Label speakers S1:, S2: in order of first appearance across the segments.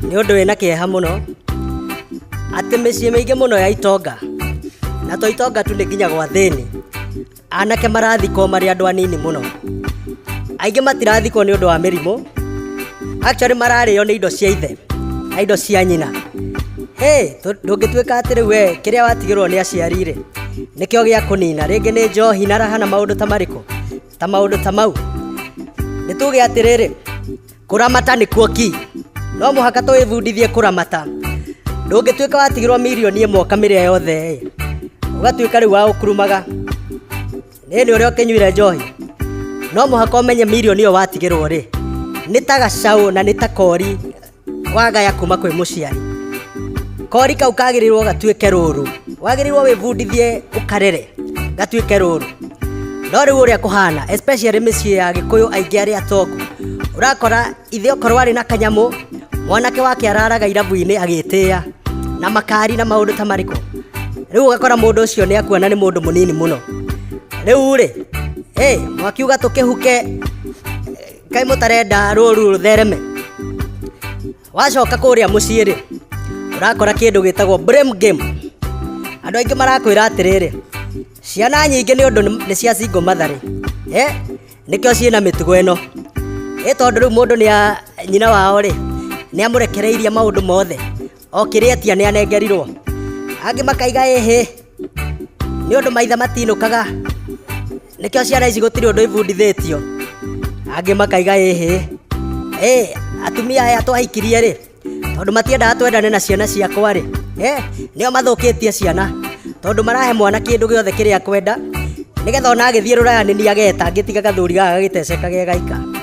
S1: nĩ ũndũ wĩna kĩeha mũno atĩ mĩciĩ mĩingĩ mũno ya itonga na to itonga tu nĩ nginya gwa thĩni anake marathikwo marĩ andũ anini mũno aingĩ matirathikwo nĩ ũndũ wa mĩrimũ actually mararĩo nĩ indo cia ithe na indo cia nyina hey, tũ- ndũngĩtuĩka atĩ rĩu we kĩrĩa watigĩrwo nĩ aciari-rĩ nĩkĩo gĩa kũnina rĩngĩ nĩ njohi na raha na maũndũ ta marĩkũ ta maũndũ ta mau nĩ tuge atĩrĩrĩ kũramata nĩkuo ki no mũhaka tũĩbundithie kũramata ndũngĩtuĩka watigirwo mirioni ĩmwe kamĩrĩa yothe ĩ ũgatuĩka rĩu wa ũkurumaga nĩ nĩ ũrĩa ũkĩnyuire njohi no mũhaka ũmenye mirioni ĩyo watigĩrwo rĩ nĩ ta gacaũ na nĩ ta kori wagaya kuma kwĩ mũciari kori kau kagĩrĩirwo gatuĩke rũru wagĩrĩirwo wĩbundithie ũkarere gatuĩke rũru no rĩu ũrĩa kũhana especially mĩciĩ ya gĩkũyũ aingĩ arĩa atongu ũrakora ithe okorwo arĩ na kanyamũ mwanake wake araraga irabu-inĩ agĩtĩa na makari na maũndũ ta marĩkũ rĩu ũgakora mũndũ ũcio nĩ akuona nĩ mũndũ mũnini mũno rĩu rĩ hey, mwakiuga tũkĩhuke kaĩ mũtarenda rũru rũthereme wacoka kũrĩa mũciĩ rĩ ũrakora kĩndũ gĩtagwo blame game andũ aingĩ marakwĩra atĩrĩrĩ ciana nyingĩ nĩ ũndũ nĩ cia singo matharĩ eh? nĩkĩo ciĩna mĩtugo ĩno ĩ tondũ rĩu mũndũ nĩ a nyina wao rĩ nĩ amũrekereirie maũndũ mothe okĩrĩ atia nĩ anengerirwo angĩ makaiga ĩhĩ nĩ ũndũ maitha matinũkaga nĩkĩo ciana ici gũtirĩ ũndũ ibundithĩtio angĩ makaiga ĩhĩ ĩ atumia aya twahikirie rĩ tondũ matiendaga twendane na ciana ciakwa rĩ nĩo mathũkĩtie ciana tondũ marahe mwana kĩndũ gĩothe kĩrĩa kwenda nĩgetha ona agĩthiĩ rũraya nĩ niageta ngĩtiga gathuri gaga gagĩteceka ge gaika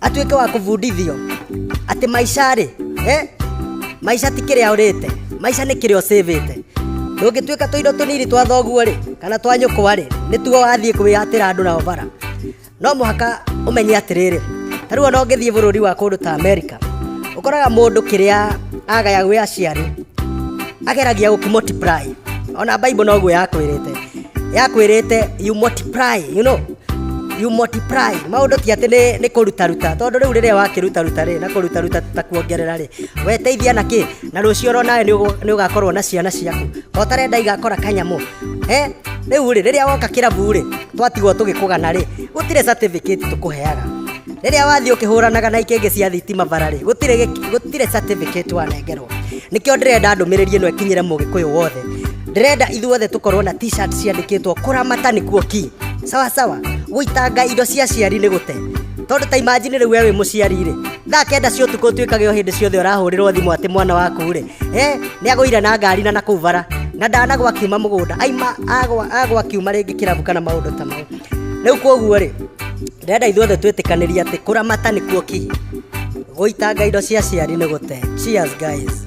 S1: atuĩke wa kũbundithio atĩ maica rĩ eh? maica ti kĩrĩa ũrĩte maica nĩ kĩrĩa ũcĩvĩte ndũngĩtuĩka tũindo tũnini twa thoguo rĩ kana twa nyũkwa rĩ nĩ tuo wathiĩ kwĩyatĩra andũ nao bara no mũhaka ũmenye atĩrĩrĩ ta rĩu ona ũngĩthiĩ bũrũri wa kũndũ ta amerika ũkoraga mũndũ kĩrĩa agaya gwĩ aciari ageragia gũkĩmultiply ona bible noguo yakwĩrĩte yakwirite you multiply you know you multiply maundu ti ati ni ni kuruta ruta tondu riu riria wakiruta ruta ri na kuruta ruta ta kuongerera ri we teithia na ki na rucio ro nawe ni ugakorwo na ciana ciaku ko tarenda igakora kanyamu eh riu ri riria woka kirabu ri twatigwo tugikugana ri gutire certificate tukuheaga riria wathi ukihuranaga na ikenge cia thitima bara ri gutire gutire certificate wanengerwo nikio ndirenda ndumiriri ino ikinyire mugikuyu wothe ndĩrenda ithuothe tũkorwo na t-shirt ciandĩkĩtwo kũramata nĩkuo ki sawa sawa gũitanga indo cia aciari nĩ gũte tondũ ta imajini rĩu we wĩ mũciari rĩ thaa kenda cia ũtukũ ũtuĩkage o hĩndĩ ciothe ũrahũrĩrwo thimũ atĩ mwana waku rĩ e nĩ agũire na ngari na nakũu bara na ndanagwa akiuma mũgũnda aima agwa agwa akiuma rĩngĩ kĩrabu kana maũndũ ta mau rĩu kwoguo rĩ ndĩrenda ithuothe twĩtĩkanĩria atĩ kũramata nĩkuo ki gũitanga indo cia aciari nĩ gũte cheers guys